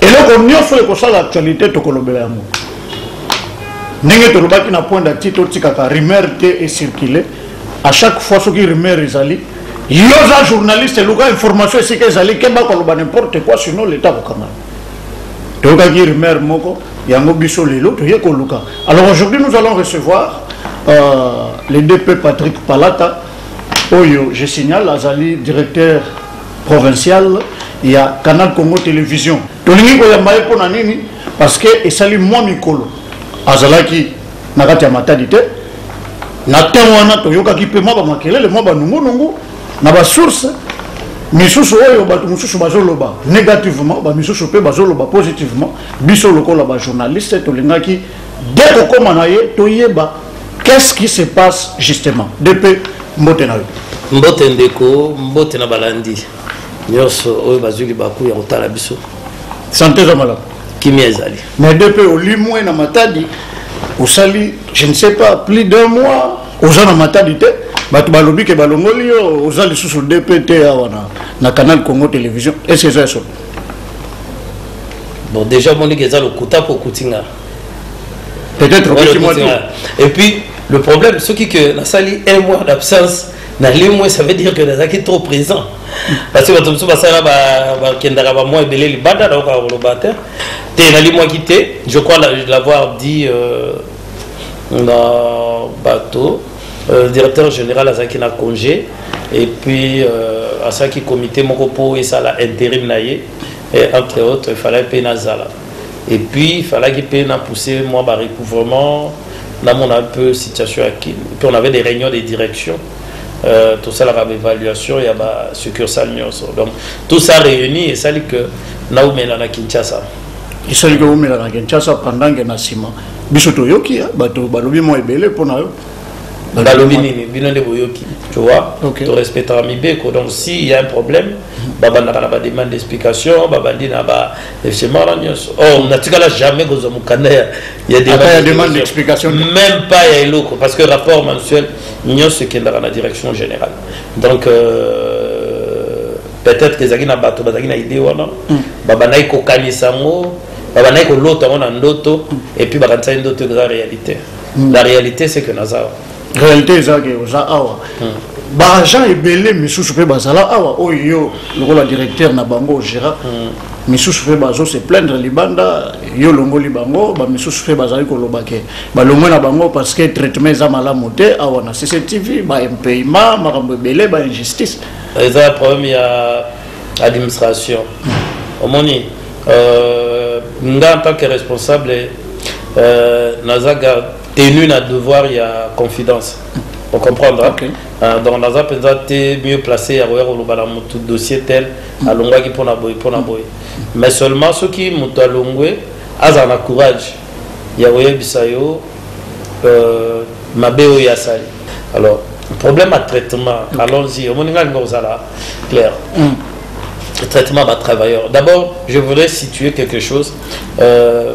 eloko nyonso oyo ekosala actualité tokolobela yango ndenge tolobaki na point dati totikaka rumeur te ecircule à chaque fois soki rumeur ezali yo oza journaliste luka information esika ezali keba koloba n'importe quoi sinon leta akokanga toyokaki rumeur moko yango biso lelo toye koluka alors aujourd'hui nous allons recevoir euh, le dp patrick palata oyo je signale azali directeur provincial ya canal congo television tolingi koyamba ye mpo na nini parce que esali mwa mikolo azalaki na kati ya matadi te na ntango wana toyokaki mpe mwa bamakelele mwa banungunungu na basource misusu oyo bato mosusu bazoloba négativement bamisusu mpe bazoloba positivement biso lokola bajournaliste tolingaki de kokóma na ye toyeba Qu'est-ce qui se passe justement DP mbote na yo mbote ndeko mbote na balandi nyonso oyo bazwi libaku ya kotala biso sante eza malamu kimia ezali mais DP olimwe na matadi osali je ne sais pas plus d'un mois oza na matadi te bato balobi ke balongoli yo oza lisusu DP te awa na, na canal Congo télévision est-ce que eza ya solo bon déjà omoni ke eza lokuta mpo okuti ngai peut-être okoki mwa et puis le problème ce qui que nasali un mois d'absence na le mois ça veut dire que nazalaki trop présent parce que bato mosusu basala bakendaka bamwa ebele libanda nayoka koloba te te nalimwaki te je crois l'avoir dit euh, na bato euh, directeur général azalaki na congé et puis euh, asalaki comité moko mpo esala intérim na ye entre autres efalaki mpe nazala et puis falaki pe na pousser moi ba recouvrement na mona un peu situation ya kin puis on avait des réunions de direction euh, tosalaka baévaluation ya ba succursale nyonso donc tout ça réuni esali que naumela na kinshasa esali que umela na kinshasa pendant ke na nsima biso toyoki hein, bato balobi mwa ebele mpo na yo balobi nini bino nde boyoki tu vois okay. torespectaka mibeko donc s'il y a un problème babandaka na bademande d'explication babandi na ba esemara nyonso or oh, natikala jamais kozwa mokanda ya demande d'explication même pas ya eloko parce que rapport mensuel nyonso ekendaka na direction générale donc euh, peut-être ezalaki na bato bazalaki na idée wana mm. babandaki kokanisa yango babandaki kolota yango na ndoto mm. epuis bakanisaki ndoto eza réalité mm. la réalité c'est que naza réalité eza ke oza awa baagent ebele misusu mpe bazala awa oyo yo lokola directeur na bango ogera misusu mpe bazo se plaindre libanda yo olongoli bango bamisusu mpe bazali koloba ke balongwe na bango parce que traitement eza malamu te awa na cctv baimpayement makambo ebele bainjustice eza problème ya administration omoni euh, nga en tant que responsable euh, naza garde tenu na devoir ya confidence o comprendre hein? okay. uh, donc naza mpenza te mieux placé ya koya koloba na motu dossier tel mm. alongwaki mpo na boye mpo na boye mais seulement soki moto alongwe azala na courage ya koyebisa yo euh, mabe oyo asali alors problème ya traitement mm. allons-y omoni ngai linga kozala clair mm. traitement ba travailleurs d'abord je voudrais situer quelque chose euh,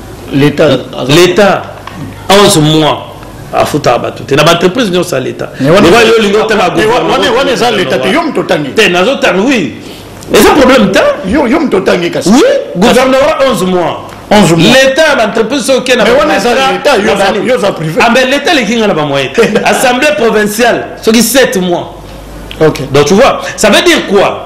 l'etat 11 mois afutaka bato te na baentreprise nyonso ya leta yo olingi otanga eza leta te yo moto otangi te nazotanga oui eza problème te yo moto otangi kasi oui gouvernement 11 mois leta ya baentreprise soki oke naambe leta eleki ngai na bamoye te assemblée provinciale soki 7 mois donc tu vois ça veut dire quoi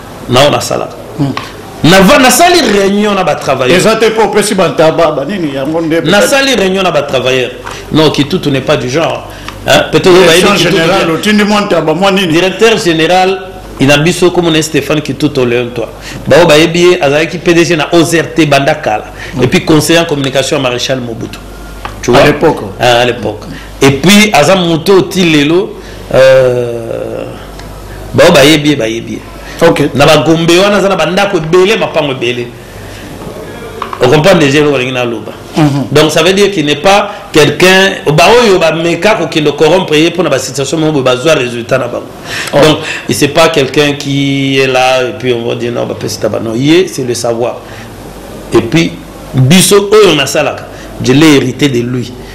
nao nasalaka nasali réunion na batravailleureza te mpo opesi bantaba banini yango nde nasali réunion na batravailleur non kitutu n'est pas du genre peut-être général otindi mwa ntaba mwa nini directeur général ina biso komona ye stéphane kituto leon toi baoyo bayebi ye azalaki pdg na ozrt banda kala mm. epuis conseiller en communication ya maréchal mobutu tu vois à l'époque hein, à l'époque et puis aza moto oyo ti lelo euh, baoyo bayebi ye bayebi ye okay. na bagombe wana aza na bandako ebele mapango ebele ocomprendre deja eloko alingi naloba mhm. donc ça veut dire qu'il n'est pas quelqu'un baoyo bameka kokende corrompre ye mpo na basituation moko boye bazwa résultat na bango oh. donc il c'est pas quelqu'un qui est là et puis on va dire non bapesi taba non ye c'est le savoir et puis biso oyo nasalaka je l'ai hérité de lui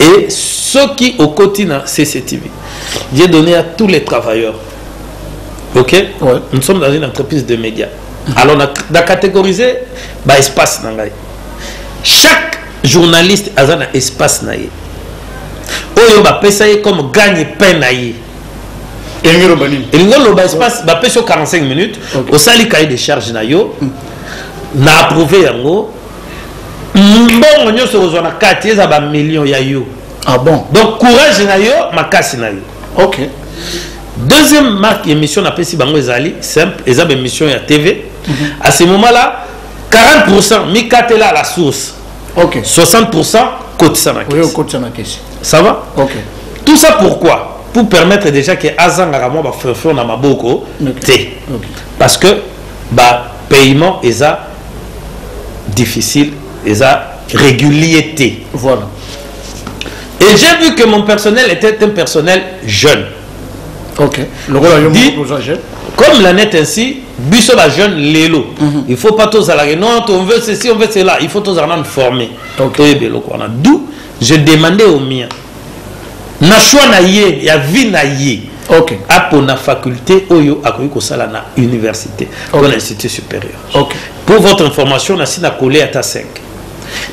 et soki okoti na cctv j'ai donné à tous les travailleurs ok ouais. nous sommes dans une entreprise de médias mm -hmm. alors na, na catégoriser ba espace na ngai chaque journaliste aza na espace na ye oyo bapesa ye comme gagne pain na ye elingi oloba nini elingi oloba espace bapesi yo 45 minutes okay. osali cahier de charge na yo mm. na approuve yango mbongo nyonso okozwa na kati eza ba million ya yo ah bon donc courage na yo makasi na yo ok deuxième marque émission napesi bango ezali simple eza baémission ya tv mm -hmm. à ce moment là 40 pourcent mikatela la source ok 60 pourcent kotisa na kesi okotisa na kesi ça va ok tout ça pourquoi pour permettre déjà que azangaka mwa bafreflon na maboko te parce que bapaiement eza difficile eza régulier te voilà et j'ai vu que mon personnel était un personnel jeune ok lokola yo moko oza jeune comme la net ainsi biso ba jeune lelo mm -hmm. il faut pas tozala que non on veut ceci on veut cela il faut tozala nanu former okay. toyeba eloko wana d'où je demandais au mien na choix na ye ya vie na ye okay. apona faculté oyo akoki kosala na université okay. to na institut supérieur okay. pour votre information nasi na colle ata 5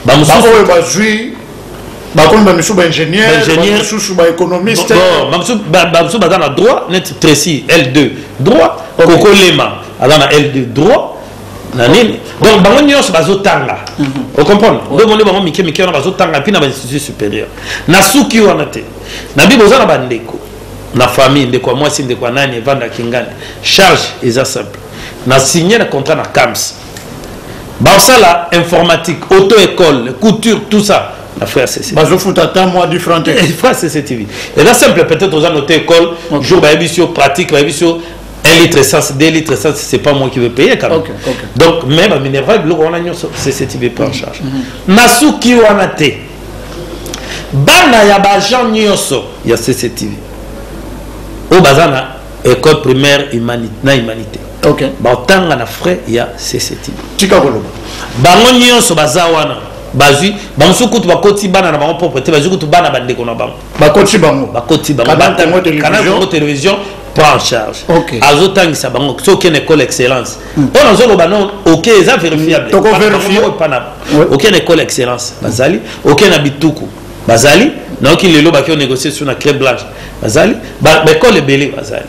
baoyo bazwi bakomi bamisusu baingénieurmisusu baéconomistebamisusu baza na droit neti tracy l2 droit kokolema aza na l2 droit na nini donc bango nyonso bazotanga mhm. ocomprendre nde omoni bango mike mike wana bazotanga mpi na bainstitut supérieur nasuki wana te na bible oza na bandeko na famille ndeko ya mwasi ndeko ya nani evandaki ngani charge eza simple na signe na contrat na cams basala informatique auto école couture tout ça na frère cc bazofuta ata mwa différent te eh, frère cc tv eza simple peut-être oza note école jour bayebisi yo pratique bayebisi yo 1 litre essence 2 litre essence c'est pas moi qui vais payer quand même okay, okay. donc mais baminerval biloko wana nyonso cc tv prend en charge mhm. nasuki wana te bana ya baagent nyonso ya cc tv oyo baza na École primaire humanité na humanité. OK. Ba tanga na frais ya CCT. Tika koloba. Bango nyonso baza wana. bazwi bango soki kutu bakoti bana na bango propre te bazwi kutu bana bandeko na bango bakoti bango bakoti bango kanal congo télévision prend en charge okay. azotangisa bango soki okende école excellence hmm. oyo nazoloba no ok eza vérifiable okende école excellence bazali okende na bituku bazali nayoki lelo baki onégocier sur na cré blanche bazali baekole ebele bazali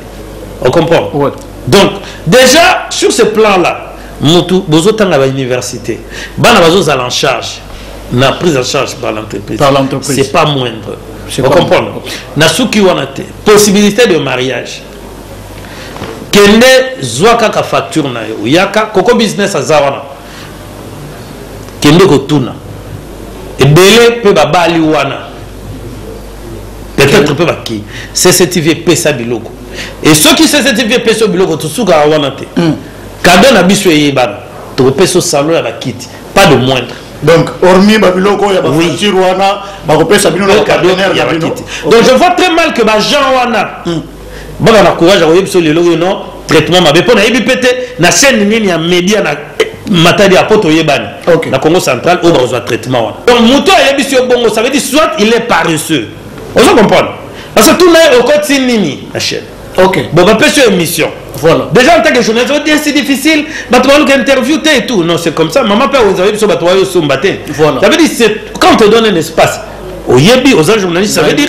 ocomprendre ouais. donc déjà sur ce plan là mutu bozotanga bauniversité bana bazozala en charge na prise en charge par l'entreprise c'est pas moindre ocomprendre nasuki wana te possibilité de mariage kende zwa kaka facture na yo yaka koko business aza wana kende kotuna ebele mpe babali wana peut-être mpe baki cctv epesa biloko e soki cctv epesa biloko tosukaka wana te hmm. kado na biso eyebana tokopesa salon ya bakiti pas de moindre donc hormis babiloko ya bafature oui. wana bakopesa bino na cadeau ya bakiti donc je vois très mal que bajean wana mm. baka na courage ya koyebisa lelo oyo non traitement mabe mpo nayebi mpe te na chaîne nini ya media na matadi ya poto oyebani okay. na congo central oyo bakozwa traitement wana donc moto ayebisi yo bongo ça veut dire soit il est paresseux ozo comprendre parce que tout naye okoti nini na chaîne okay. bon bapesi yo émission voilà. déjà en tant que journaliste odi c'est difficile bato baluka interview te et tout non c'est comme ça maman mpe ozayebi biso bato bayo osomba te ça veut dire quand on te donne un espace oyebi oza journaliste ça veut dire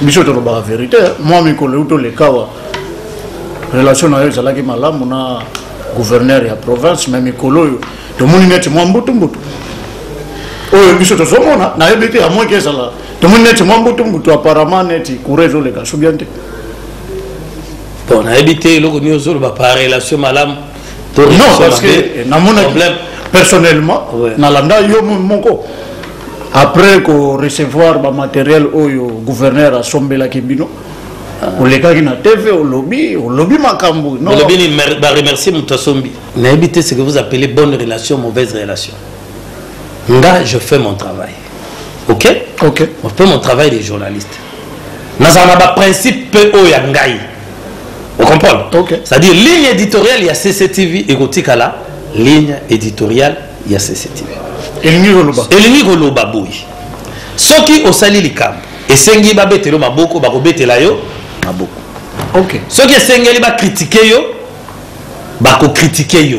biso tolobaka verite mwa mikolo euti olekawa relation na yo ezalaki malamu na gouverneur ya province me mikolo oyo tomoni neti mwa mbutumbutu oyo biso tozomona nayebi te amoki ezala tomoni neti mwa mbutumbutu apparemment neti coura ezoleka sobian te bon nayebi te eloko nini ozoloba par relation malamu non parce que namona problème personnellement ouais. nalanda yo moko après ko recevoir ba matériel oyo gouverneur asombelaki bino ah. olekaki na tv olobi olobi makambo olobi ni ba remercier moto asombi nayebi te ce que vous appelez bonne relation mauvaise relation nga je fais mon travail ok ok je fais mon travail de journaliste nazala na baprincipe mpe oyo ya ngai Vous comprenez okay. C'est-à-dire ligne éditoriale ya CCTV et Gotikala, ligne éditoriale ya CCTV. Elingi koloba. Elingi koloba boy. Soki osali likambo, esengi babetelo maboko, bakobetela yo maboko. Okay. Soki esengeli ba critiquer yo, bako critiquer yo.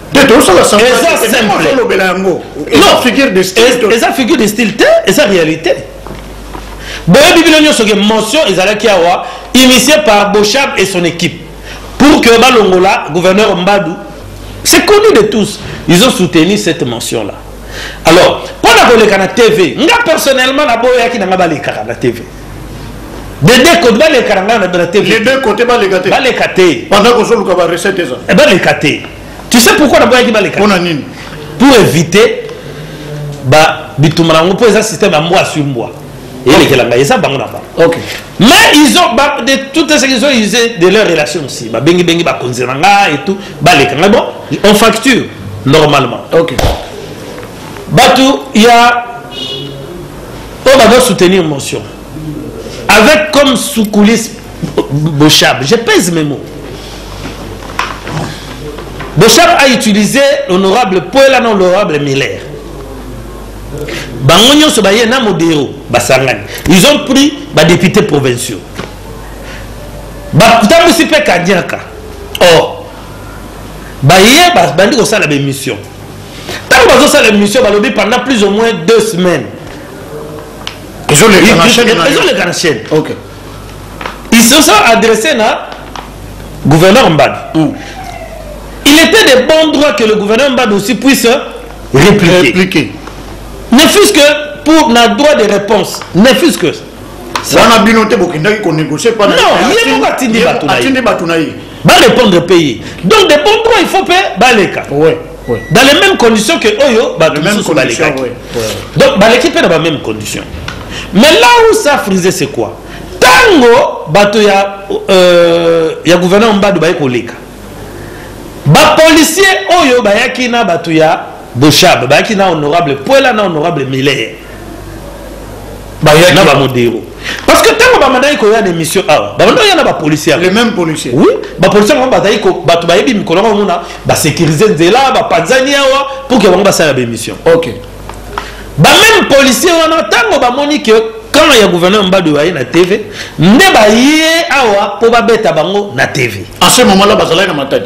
te tozosala eza simpleolobela yango eza figure de style te eza réalité boyebi bino nyonso ke motion ezalaki awa initié par boshab et son équipe pour que balongola gouverneur mbadu c'est connu de tous ils ont soutenu cette mention là alors mpo na koleka na tv nga personnellement naboyaki na nga balekaka na tv de deux côtés baleka na ngai na tv les deux côtés baleka te baleka te pendant que ozoluka ba recette eza eh, baleka te tu sais pourquoi naboyaki baleka mpona nini pour éviter ba bituma na yango mpo eza système ya mbwa sur mbwa elekela ngai eza bango na bango okay. mais ils ont ba, de toutes ce qu'ils ont usé de leur relation aussi babengi bengi bakonzi na ngai et tout baleka ngai bon on facture normalement okay. bato ya oyo bazo soutenir motion avec comme soukoulise boshab je pèse mes mots boshab a utilisé l'honorable poela na l'honorable miller bango nyonso baye na modero basangani ils ont pris badéputé provinciaux batambwisi mpe kanyaka or baye babandi kosala baémission ntango bazosala émission balobi pendant plus au moins deux semaines ezoleka na chaîne ils se sont adressés na gouverneur mbadi mm. il était de bon droit que le gouverneur mbadi aussi puisse répliquer, répliquer. ne fût-ce que pour na droit de réponse ne fût-ce que wana bino te bokendaki konégocier pa atindi bato na ye ba répondre pe ye donc de bon droit il faut pe baleka ouais. Oui. dans les mêmes conditions que oyo bato mosusu balekaki oui. oui. donc baleki mpe na ba même condition mais là où ça frise c'est quoi ntango bato ya, euh, ya gouverneur mbadu baye koleka bapolisier oyo bayaki na bato ya boshab bayaki na honorable puela na honorable miller na ba modero parce que ntango bamandaki koya na émission awa bamanda koya na bapolicier le même policier oui bapolicier yango bazali bato bayebi mikolo yango omona basécurise nzela bapanzani awa pour ke bango basala baémission ok bameme policier wana ntango bamoni ke camp ya gouverneur mbadu baye na tv nde baye awa mpo babeta bango na tv en ce moment là bazalaki na matadi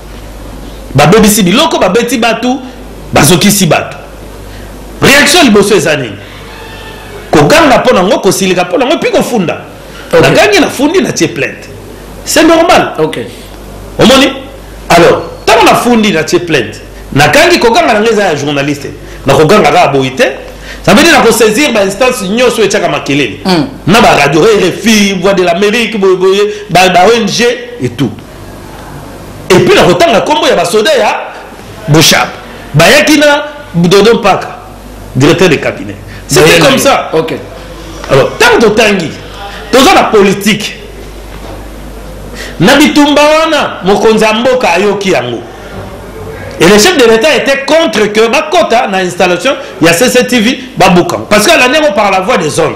babebisi biloko babeti bato bazokisi bato réaction liboso eza nini koganga mpo nango kosilika mpo nango epi kofunda okay. nagangi nafundi natie plainte c'est normal okay. omoni alors ntango nafundi natie plainte nakangi koganga nango eza ya journaliste nakoganga kaka boyi te ça veut dire nakosaisir bainstance nyonso etyaka makelele hmm. na baradio rfi voix de l'amérique boyeboye baong et tout epuis na kotanga nkombo ya basoda ya boshab bayaki na dodo mpaka directeur de cabinet c'était comme ça okay. alors ntango totangi toza na politike na bitumba wana mokonzi ya mboka ayoki yango et le chef de l'état était contre que bakota na installation ya cctv babukango parce que alandi yango par la voie des ondes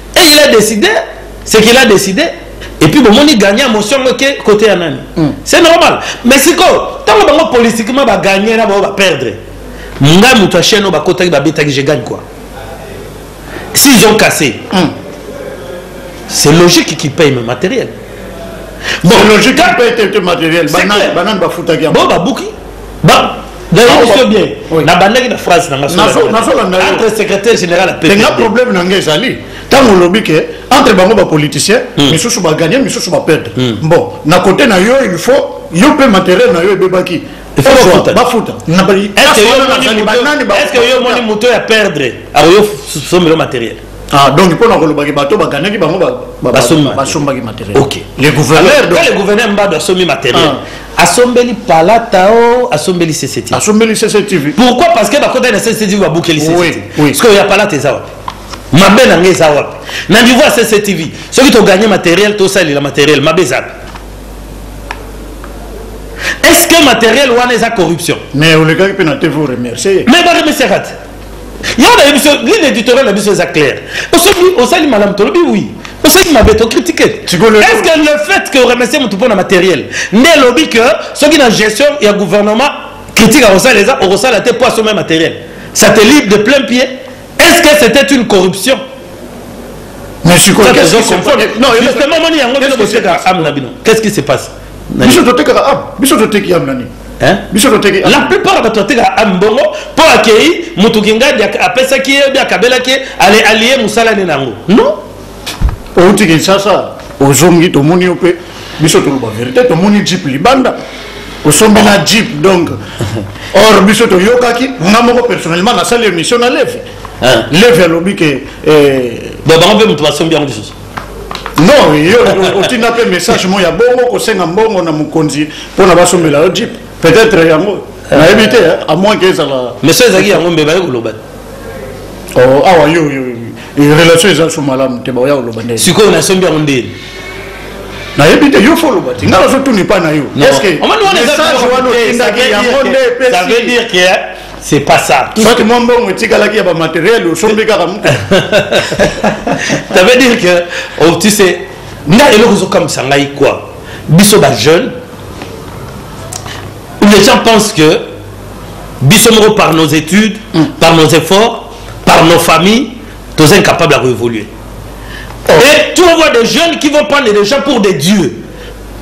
et il a décidé ce qu'il a décidé et puis bomoni gagne motion yango eke kote ya nani mm. c'est normal mais sikoyo ntango bango politiquement bagagne na bango baperdre ngai moto ya chaine oyo bakotaki babetaki je gagne quoi s'ils ont cassé mm. c'est logique qui paye me matériel bon logique qui paye te matériel banani bafutaki yango bo babuki Ba nayebi so bien nabandaki na phrase na ngaentre secrétaire général apenga problème na nga ezali ntango olobi ke entre bango bapoliticien hmm. misusu bagagne misusu baperdre hmm. bon na kote na yo il faut yo mpe matériel na yo ebebaki bafuta est ce que yo moni moto ya perdre akoyo sombelo matériel Ah, donc mpo na koloba ke bato baganaki bango basombaki matériel ok le gouverneur donc le gouverneur mbado asombi matériel ah. asombeli palata o asombeli cctv asombeli cctv pourquoi parce que bakotaki na cctv babukeli cctv sikoyo ya palata eza wapi mabe na ngai eza wapi na niveau ya cctv soki toganye matériel tosalela matériel mabe eza wapi est ce que matériel wana eza corruption mais olekaki mpe na tv oremercie mais baremerciaka te Yo na biso ligne éditoriale na biso eza clair. Osobi osali malam tolobi oui. Osali mabe to critiquer. Est-ce que le fait que remercier mutu pona matériel nde lobi que soki na gestion ya gouvernement critique akosala eza okosala te po asomba matériel. Ça te libre de plein pied. Est-ce que c'était une corruption? Mais je suis quoi Non, justement, qu'est-ce qui se passe biso totekaka am biso toteki am na nini biso toteki la plupart ya bato batekaka am mbongo mpo akei moto kingadi apesaki ye obi akabelaki ye ale alie mosala ne na yango non outi kinshasa ozongi tomoni yo mpe biso toloba verité tomoni jip libanda osombi na jip donc or biso toyokaki nga moko personnellement nasali émission na leve leve alobi ke eh, bango mpe moto basombi yango lisusu non yo otinda mpe message mo ya bongo kosenga mbongo na mokonzi mpo na basombela yo jip peut-être yango eh. nayebi te a moins ke ezala mais so ezalaki yango mbeba ye koloba oh, awa ah, yo relation eza so malamu te baoya koloba nde sikoyo nasombi yango ndeni nayebi te yo fo oloba te ngai nazotuni mpa na yo est ce que message wana otindaki yango nde epesi c'est pas ça tout soit mwa mbongo etikalaki ya bamateriel osombi kaka mutu ça veut dire que oh, tu sais nga eloko ezokamwisa ngai kua biso bajeune les gens pensent que biso moko par nos études mm. par nos efforts par nos familles toza incapable ya koévoluer oh. et tu vois des jeunes qui vont prendre des gens pour des dieux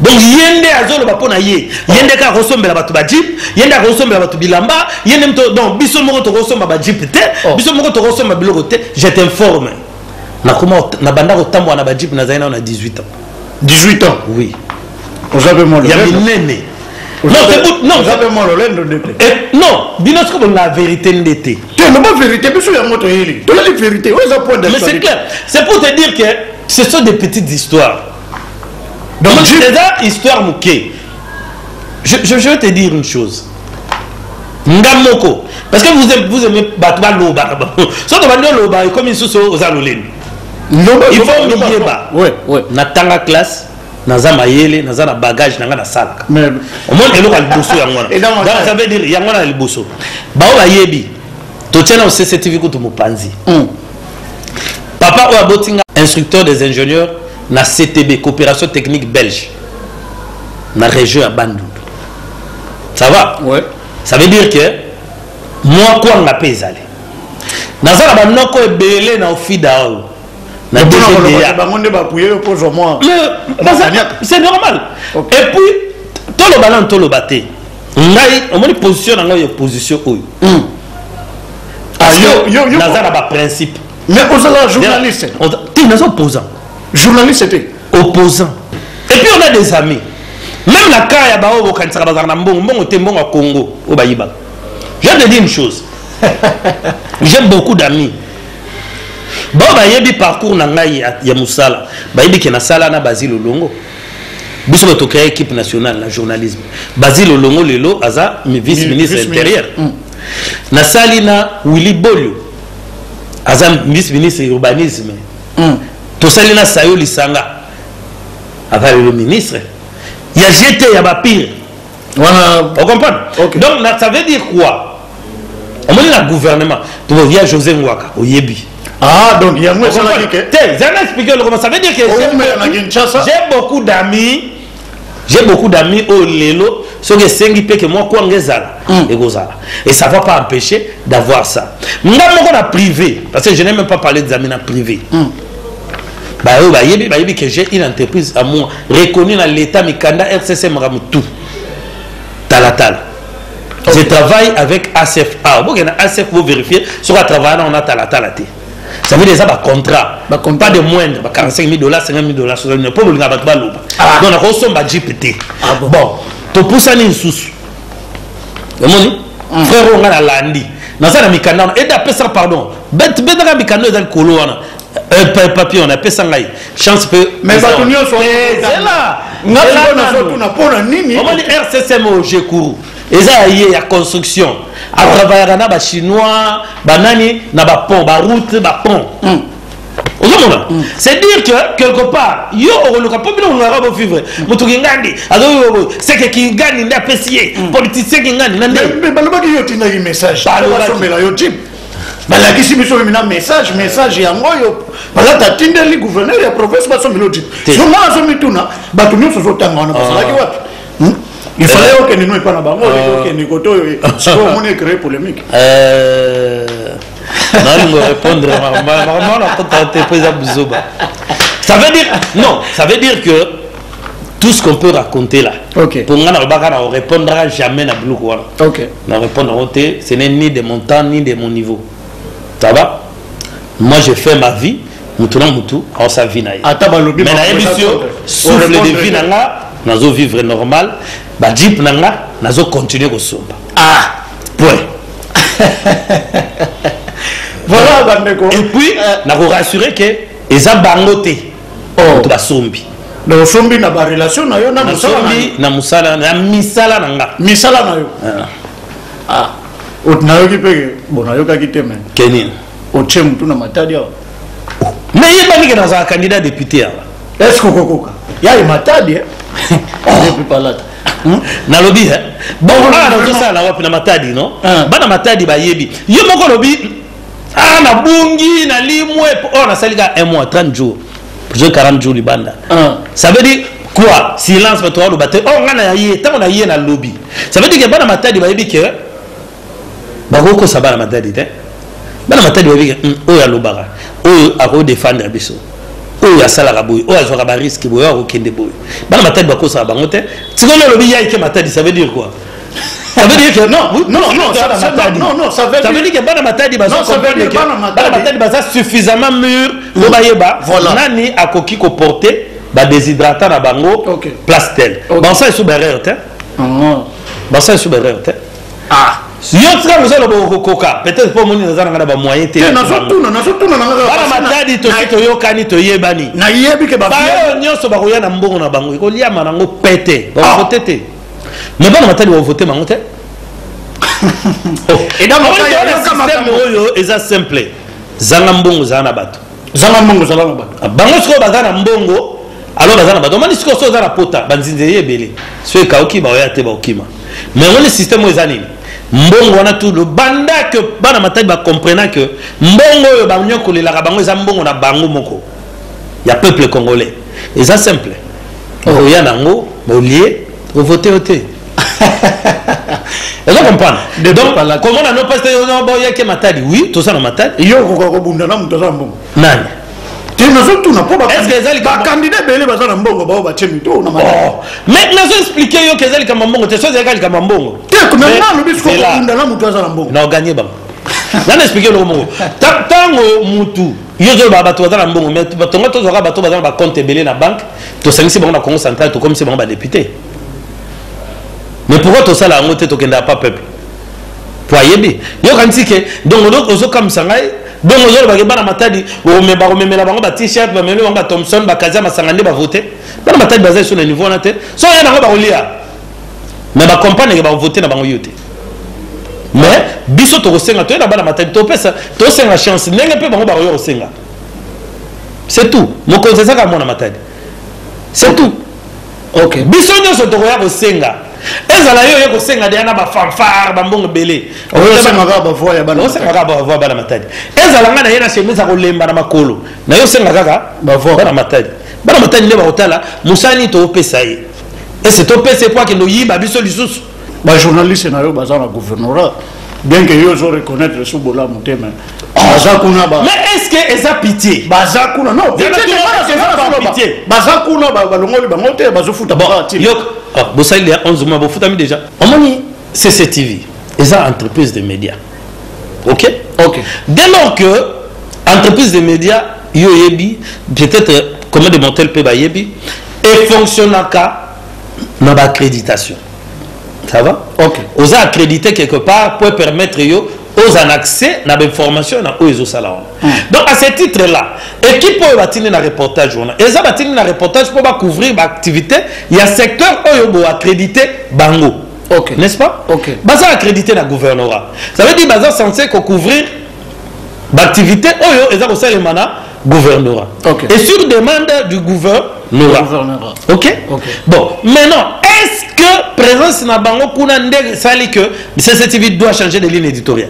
donc ye nde azoloba mpo na ye ye nde kaka akosombela bato bajip ye nde akosombela bato bilamba ye nde mto donc biso moko tokosomba bajip te oh. biso moko tokosomba biloko te je t'informe nakoma nabanda kotambola na bajip nazali nao na 18 ans 18 ans oui oza mpe mwana ya minene non bino soki bolinga vérité nde te te loba vérité biso yango toyeli toyeli vérité oyo eza point mais c'est clair c'est pour te dire que ce sont des petites histoires Donc, Donc je... eza histoire moke je, je, je vais te dire une chose nga moko parce que vous, vous aimez bato balobaka soki obandi oloba ekomi lisusu oza loleni il faut miyeba natanga classe naza mayele naza na bagage na ngai nasalaka omoni eloko ya liboso yango wana ça veut dire yango wana ya liboso baoyo bayebi totyana o cctv kutu mopanzi mm. papa oyo aboti nga instructeur des ingénieurs na ctb coopération technique belge na région ya bandundu ça va ouais. ça veut dire que mwa kwanga mpe ezali naza na banoko ebele na ofida oyo na bango nde bapuye yo kozwa mwa c'est normal okay. et puis toloba nanu toloba te ngai omoni position na ngai ya opposition oyo mm. Ah, naza na baprincipe mais ozala journaliste te naza opposant journaliste te opposant et puis on a des amis même na cas ya baoyo bokanisaka bazalaka na mbongo mbongo te mbongo ya congo oyo bayibaka je te dis une chose j'ai beaucoup d'amis baoyo bayebi parcours na ngai ya mosala bayebi ke nasala na basile olongo biso bato créer équipe nationale na journalisme basile olongo lelo aza vice ministre intérieur mm. nasali na willy bolio aza vice ministre urbanisme mm. tosali na sayo lisanga aza lelo ministre ya jete ya bapire wana o comprendre okay. donc na, ça veut dire quoi omoni na gouvernement toya josé ngwaka oyebi ah donc yango esalaki ke te zana explique lokoma ça veut dire que j'ai beaucoup d'amis j'ai beaucoup d'amis oyo lelo soki esengi mpe ke mwa kwanga ezala mm. ekozala et ça va pas empêcher d'avoir ça nga moko na privé parce que je n'ai même pas parlé des amis na privé mm. baoyo bayebi bayebi que j'ai une entreprise à moi reconnue na l'état mikanda rcc makambo tout talatala je travaille avec acf a oboke na acf bovérifie soki atravaille nango na talatala te ça veut dire eza bacontrat pas de moindre ba 45 000 dollars 50 000 dollars 60 000 mpo bolinga bato baloba ah. donc nakosomba jipe te ah bon topusani lisusu omoni mm. frère oyo ngai nalandi naza na mikanda wana ede apesaka pardon betaka mikanda oyo eza likolo wana Euh, papier on apesa ngai chance pe mais bato nyonso eh, zela ngasonasotuna mpo na nini omoni rccm oyo jekuru eza ya ye ya construction atravayaka na bachinois banani na bapont baroute bapont hmm. ozomona hmm. c'est dire que quelque part yo okoluka mpo bino olingaka bovivre hmm. moto kingandi azoyobo seke kingandi nde apesi ye politicien kingandi na nde balobaki yo otindaki message balobasomela yo jip balakisi biso mina message message yango oyo balata atindeli gouverneur ya province baso milodi so nga nazomituna bato nyonso ozotanga wana basalaki ah. wapi hmm? il fallait euh. okende no epa na bango ah. okende kote oyo sikoyo omoni ecree polémique euh. nalingo répondre maman nakota te mpo eza buzoba ça veut dire non ça veut dire que tout ce qu'on peut raconter là okay. pour nga na lobaka na repondra jamais na biloko wana okay. na repondre yango te ce n'est ni de mon temps ni de mon niveau ça va moi je fais ma vie motu na motu aosa vie na ye mais nayebisi yo souffle de vie na nga nazo vivre normal bajeep na nga nazo continue kosomba ah point voilà bandeko et puis euh, nakorassurer ke eza bango te oh. moto basombi na osombi na barelation na yo na mosala na misala na nga misala na yo ah. Ah. nayoki mpe bo nayokaki te me keni otie motu na matadi awa nayebaki ke nazala candidat député awa est ce kokokoka yaye matadi eh? depuis palata hmm? nalobi eh? bongo bana nazosala wapi na matadi no ah. bana matadi bayebi yo moko olobi ah na bungi na limwe oh na salika un mois 30 jours je 40 jours libanda ah. ça veut dire quoi silence bato aloba te oh nga na ye ntango na ye na lobi ça veut dire que bana matadi bayebi ke bakoki kosa bana matadi te bana matadi bayebi ke hmm, oyo alobaka oyo akoki defendre biso oyo asalaka boye oyo azwaka bariske boye oyo akokende boye bana matadi bakosaka bango te sikoyo olobi yaike matadi ça veut dire quoi Ça veut dire que non, oui, non, non, non, ça, ça, matadi. non, non, ça veut dire, ça veut dire que bana matadi bazo comprendre que bana matadi baza suffisamment mûr pour bayeba voilà. nani akoki ko porter ba déshydratant na bango okay. place telle. Okay. Bon ça est sous barrière hein. Non. Bon ça est sous barrière hein. Ah. yo tika mosala bokokoka peut-être mpo omoni naza nanga na bamoyen te bana matadi tosi toyokani toyebani baoyo nyonso bakoya na mbongo na bango ekoliama nango pete bakokote te Mais bana matali ba voter mango te. Et donc système oyo eza simple. Zanga mbongo zanga na bato. Zanga mbongo zanga na bato. Bango sikoyo baza na mbongo alors baza na bato omoni sikoyo so oza na pota banzinzi eye ebele so ekauki baoya te baokima mais omoni système oyo eza nini mbongo wana tu lobanda ke bana matali bacomprena ke mbongo oyo banyokolelaka bango eza mbongo na bango moko ya peuple congolais eza simple okoya oh. nango olie ovote yo te ozo comprendre donc comment nano peste boyaki matadi oui toza na matadi yo okoka kobunda na moto aza na mbongo nani nazotuna po bakandida ebele baza na mbongo bao batie mito na oh. mais nazo explike yo ke eza likambo mbongo te so ezalaka likambo mbongo te nanga alobi sikokunda na moto aza na mbongo na oganye bango nana explike eloko moko ntango motu Yo zoloba bato baza na mbongo mais tonga tozwaka bato baza na ba compte ebele na banque tosangisi bango na Congo central tokomisi bango ba député mais pourquoi tosala yango te tokendaka pa peuple po ayebi yokanisi ke donc ozokamwisa ngai donc ozolobake bana matadi bakomemela bango ba t-shirt bamemeli bango ba thomson bakazi ya masanga nde bavote bana matadi baza esu na niveau wana te so oye nango bakolia mais ba comprendre que ba voter na bango yo te mais biso tokosenga toyena bana matali topesa tosenga chance ndenge mpe bango bakoya kosenga c'est tout mokonzi ezaka mwana matali c'est tout okay. biso nyonso tokoya kosenga ezala yo oye kosenga deya na bafanfare bambongo ebele osengaka bavoi ya bana matadi ezala ngai na ye na chemise akolemba na makolo na yo osenga kaka bana matadi bana matadi nde bakotala mosala nini toopesa ye ese topesa epo akende oyiba biso lisusu bajournaliste na yo baza na gouvernorat bien que yo ozo reconnaître esu bolamu te mais baza kuna ba mais est ce que eza pitié baza kuna non baza kuna balongoli bango te bazofuta bosali ya 11 mois bofutami déjà omoni CCTV eza entreprise de media ok ok dès lors que entreprise de media yo oyebi peut-être combien de mortel mpe bayebi efonctionnaka na baccréditation ça va ok oza accrédité quelque part mpo permettre yo ozala na accès na bainformation na oyo ezosala wana Hmm. Donc à ce titre là, équipe oyo batindi na reportage wana, eza batindi na reportage pour ba couvrir ba activité ya secteur oyo bo accrédité bango. OK. N'est-ce pas? OK. Baza accrédité na gouvernorat. Ça veut dire baza censé ko couvrir ba activité oyo eza ko salema na gouvernorat. OK. Et sur demande du gouvernorat. Gouvernorat. OK? OK. Bon, maintenant est-ce que présence na bango kuna nde sali que CCTV doit changer de ligne éditoriale?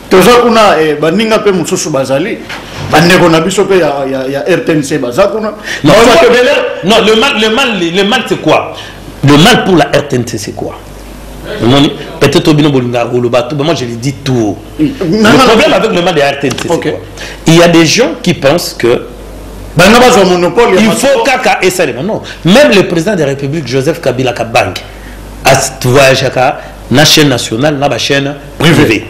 toza kuna eh, baninga mpe mosusu bazali bandeko na biso mpe ya, ya, ya rtnc baza kuna non, non, le mal, le mal, le mal c'est quoi le mal pour la rtnc c'est quoi omoni peut-être obino bolingaka koloba tout moi je le dis tout le problème avec le mal de rtnc c'est okay. quoi il y a des gens qui pensent que bana bazwa monopole il faut kaka esalema non même le président de la république joseph kabila kabange voyageaka na chaîne nationale na bachaîne privé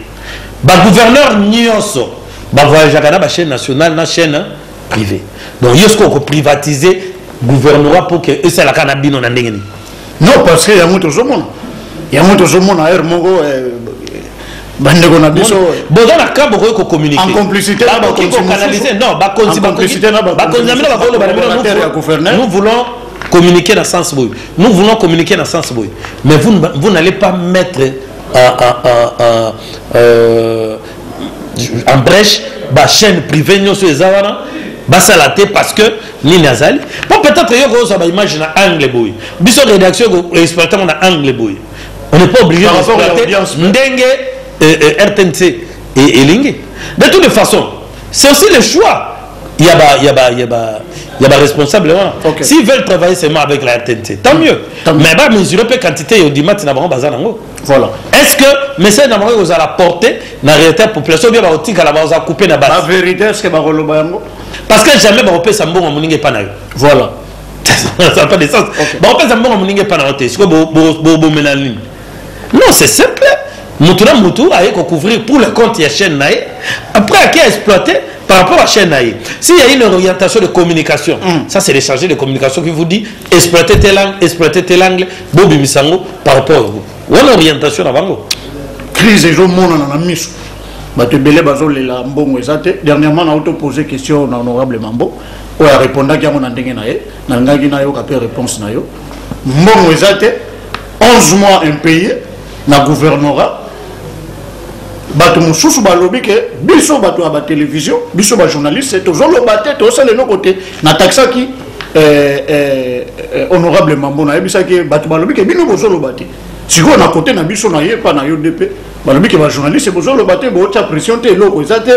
bagouverneur nyonso bavoyageaka na bachaîne nationale na chaîne privé donc yo soki okoprivatise gouvernorat mpo ke esalaka na bino na ndenge nini non parce que yango tozomona yango tozomona heure moko eh, bandeko na biso boza na ka bokoki kokommuniquebakonzi na bino bakoloba na bino nous voulons communiquer na sens boye nous voulons communiquer na sens boye mais vous, vous n'allez pas mettre en, en, en, en, euh, en brèche bachaîne privé nyonso eza wana basala te parce que nini azali mpo peut-être yo kozwa baimage na angle boye biso rédaction exploite yango na angle boye on n'est pas obligé d'exploiter ndenge euh, euh, rtnc elingi de toute façon C'est aussi le choix. Il y a ba, il y a ba, il y a ba, il y a ba responsable vraiment. Okay. S'ils veulent travailler seulement avec la RTNC, tant mieux. Tant mieux. Mais bah mesurer peu quantité au dimat na bango bazana ngo. Voilà. Est-ce que message na bango aux à la portée na réalité population bien ba otika la ba oza couper na base. La vérité est-ce que ba koloba yango? Parce que jamais ba opesa mbongo muninge pa na yo. Voilà. Ça n'a pas de sens. Okay. Ba opesa mbongo muninge pa na yo te. Siko bo bo bo bo menalini. non c'est simple mutu na mutu aye couvrir pour le compte ya chaîne na ye après ake exploite par rapport à chaîne na ye s'il y a une orientation de communication mm. ça c'est le chargé de communication qui vous dit exploite tel angle exploite tel angle bobimisa yango par rapport à vous wana orientation na bango crise ezomonana na miso bato ebele bazolela mbongo eza te dernièrement na auto pose question na honorable mambo oyo arépondaki yango na ndenge na ye nalingaki nayoka mpe réponse na yo mbongo eza te 11 mois impaye na gouvernorat bato mosusu balobi ke biso bato ya batelevision biso bajournaliste tozoloba te tozosala eloko te natakisaki eh, eh, eh, honorable mambo nayebisaki bato balobi ke bino bozoloba te sikoyo na kote na biso na ye mpa na yo nde mpe balobi ke bajournaliste bozoloba te bootya pression te eloko eza te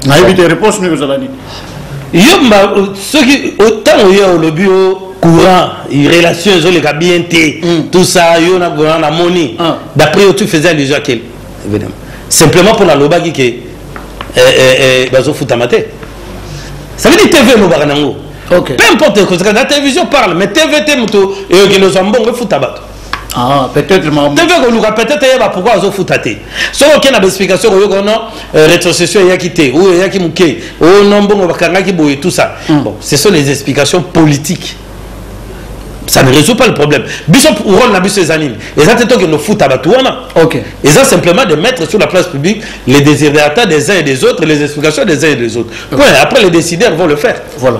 nayebi te réponse nini kozala nini yo mba soki ntango ye olobi yo courant relation ezoleka bien te hmm. tout ça yo na courant namoni ah. d'après yo tu faisais allusion à quel évidemment simplement mpo nalobaki ke eh, eh, eh, bazofutama te ça veut dire tv elobaka nango peu importe kozaka na télévision parle mais tv te moto eyokende ozwa mbongo efuta bato Ah, peut-être maman. Tu veux que Luka peut-être yeba pourquoi azo futa te. Soki oke na explication ko yoko non euh, rétrocession eyaki te ou eyaki muke ou oh, non bongo bakangaki boye tout ça. Mm. Bon, ce sont les explications politiques. ça ne résout pas le problème biso role na biso eza nini eza te tokende ofuta bato wana okay. eza simplement de mettre sur la place publique les désirata des uns et des autres les explications des uns et des autres point après les décideurs vont le faire voilà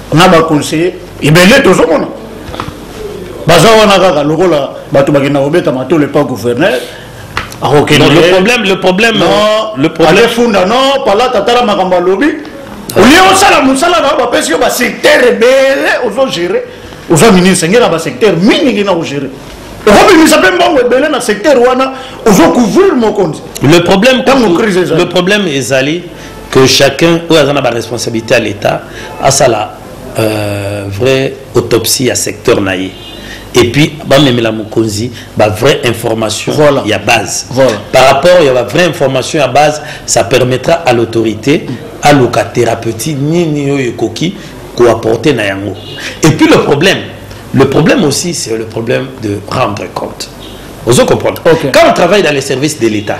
na ba conseiller ebele tozomona baza wana kaka lokola bato bakenda kobeta matolo epa gouverneur akokende le problème le problème non le problème alefunda non palata tala makambo alobi olie osala mosala na yo bapesi yo basecteur ebele ozogere oza ministre ngela basecteur mingi ngi na kogere okobimisa mpe mbongo ebele na secteur wana ozocouvrir mokonzi le problème ntango crise ezali le problème ezali que chacun oyo aza na ba responsabilité ya l'etat asala euh, vrai autopsie ya secteur na ye et puis bamemela mokonzi ba vraie information voilà. ya base voilà. par rapport ya ba vraie information ya base ça permettra à l'autorité aluka thérapeutie nini oyo ekoki koapporte na yango et puis le problème le problème aussi c'est le problème de rendre compte ozo comprendre okay. quand on travaille dans les services de l'état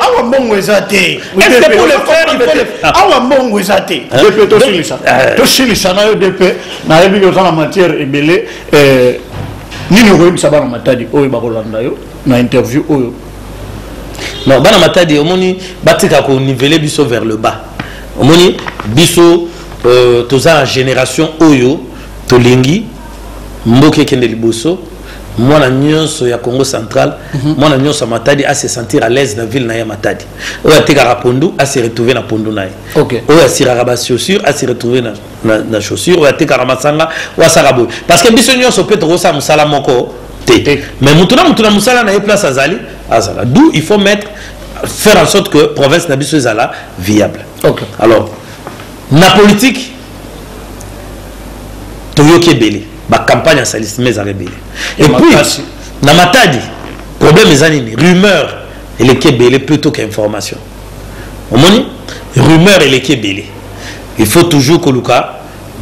awa mbongo eza te awa mbongo eza te dp tosilisa eh. tosilisa na yo dp nayebi oza na matière ebele eh, nini okoyebisa bana matadi oyo bakolanda yo na interview oyo non bana matadi omoni batika konivele biso vers le bas omoni biso euh, toza na génération oyo tolingi mboka ekende liboso mwana nyonso ya congo central mhm. mwana nyonso ya matadi ase sentir à l'aise na ville na ye matadi oyo atekaka pondu ase retrouve na pondu na ye oyo asiraka bachaussure ase retrouve na, na, na chaussure oyo atekaka masanga oyo asaka boye parce que biso nyonso mpe tokosala mosala moko te mais motu na motu na mosala na ye place azali azala d'où il faut mettre faire en sorte que province na biso ezala viable okay. alors na politique toyoki ebele bacampagne ya salisme ezala ebele epuis na matadi problème eza nini rumeur eleki ebele plutôt que information omoni rumeur eleki ebele il faut toujours koluka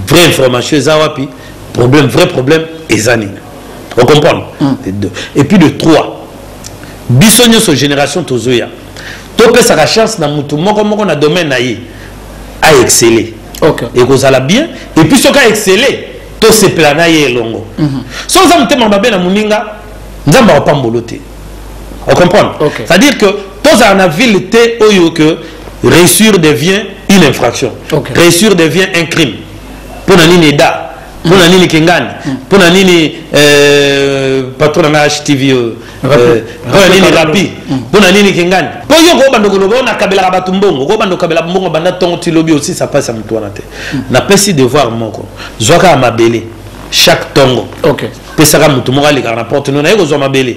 vraie information eza wapi problème vrai problème eza nini ocomprendre mm. et puis de trois biso nyonso génération tozoya topesaka chance na mutu moko moko na domaine na ye a excelle okay. ekozala bien epuis soki a excelle tosepela na ye elongo mm -hmm. so oza motema mabe na moninga nzambe akopambolo te ocomprendre okay. c'est à dire que tozala na ville te oyo que réussir devient une infraction okay. réussir devient un crime mpo na nini eda mpo na nini kengani mpo na nini patron na htv oyo nini rapi mpo na nini kingani mpo yo kobanda koloba oyo nakabelaka bato mbongo kobanda okabela mbongo banda ntongo ti lobi osisa mpasi ya motu wana te napesi devoir moko zwaka ya mabele chaque ntongo pesaka motu moko alekaka na porte no naye kozwa mabele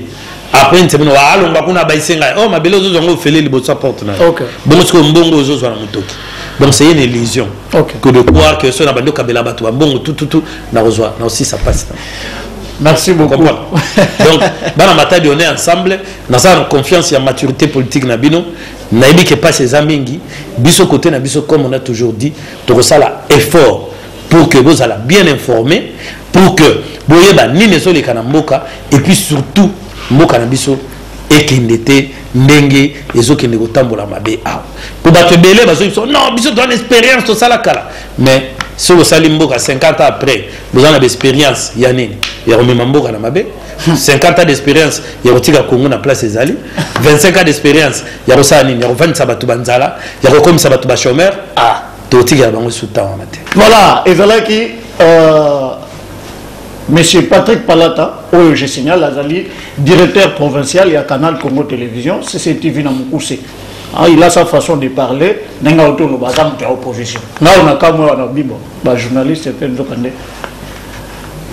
après nse bino alongwa kuna abayise ngai o oh, mabele ozozwa ngo ofele liboso ya porte na yo bongo sikoyo mbongo ozozwa na motoki donc c'est une illusion que de croire que soki na bandi okabela bato bambongo tututu nakozwa na osisa mpasi na Merci beaucoup. Donc, bana matadi on est ensemble. Dans sa confiance et maturité politique na bino, na ebi que pas ces amingi, biso côté na biso comme on a toujours dit, toko sala effort pour que vous allez bien informer, pour que boye ba ni nezo les kanamboka et puis surtout mboka na biso ekende te ndenge ezokende kotambola mabe awa po bato ebele bazoki biso non biso toana expérience tosala kala mais soki osali mboka 50 ans après boza na baexperience ya nini ya komema mboka na mabe 50 ans d'expérience ya kotika congo na place ezali 25 ans d'expérience ya kosala nini ya kovandisa bato banzala ya kokomisa bato bachomeur ah tokotikela bango esu ntan wana te voilà ezalaki euh, monsieur patrick palata oyo je signale azali directeur provincial ya canal congo télévision cctv na mokuse ah, il a sa façon de parler ndenge aotoloba aza moto ya opposition nao na kamwe wana bibo ba journaliste mpe nzoka nde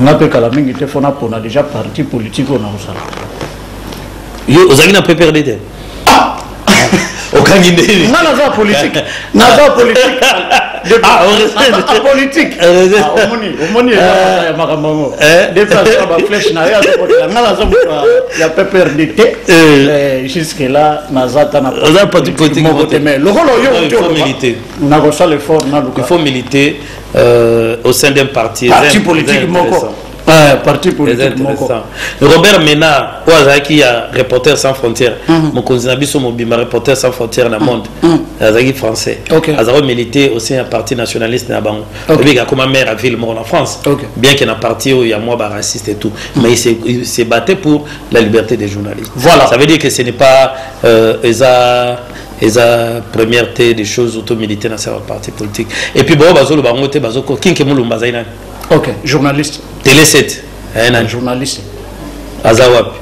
nga mpe kala mingi te mpo napona déjà parti politique oyo nakozala yo ozalaki na pprd te ah! okangi ndeni nga naza politique naza politique ah, ah, politique omoni omoni eza ya makambo yango depuis azoka baflèche na ye azokotela nga naza moto ya pprd te eh. eh, jusque là naza ta na oza parti politique moko te mais lokola oyo nakosala effort naluka il faut militer euh, au sein d'un parti parti politique moko ah, parti politique moko robert ménard oyo azalaki ya reporter sans frontière mm. mokonzi na biso mobimba reporter sans frontière na mm. monde mm. azalaki français azalaki milite aussi ya parti nationaliste na bango obiki akoma maire ya ville moko na france bien que na parti oyo ya mwa baraciste et tout mais il se battait pour la liberté des journalistes voilà ça veut dire que ce n'est pas euh, eza eza première te des choses auto militaire na sala parti politique et puis baoyo bazoloba yango te bazoko kinke molumba azali nani ok journaliste tele 7 eh, nani journaliste aza wapi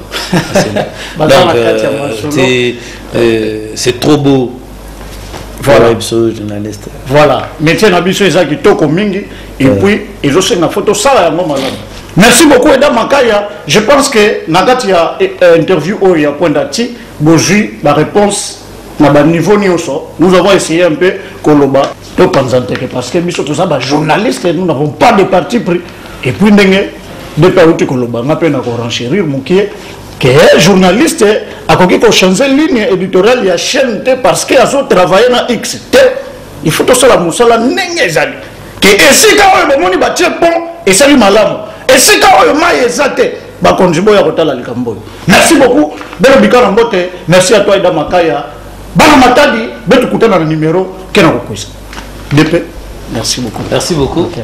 donc euh, euh, c'est trop beau voilà biso journaliste voilà métier na biso eza kitoko mingi et euh. puis ezosenga fo tosala yango malamu merci beaucoup eda makaya je pense que na kati ya eh, eh, interview oyo ya kwenda ti Bozui ba reponse na ba niveau nioso nous avons essayé un peu koloba to panza nteke parce que biso toza ba journaliste nous n'avons pas de parti pris et puis ndenge depuis auti koloba nga pe na ko renchérir mukie que journaliste akoki ko changer ligne éditoriale ya chaîne te parce que azo travailler na X te il faut tosala musala ndenge ezali que esika oyo bomoni batie pont esali malamu esika oyo mai eza te bakonzi boya kotala likambo oyo merci beaucoup belo bikana mbote merci à toi ida makaya bana matadi betukutana na numero ke na kokwisa dp merci beaucoup merci beaucoup okay.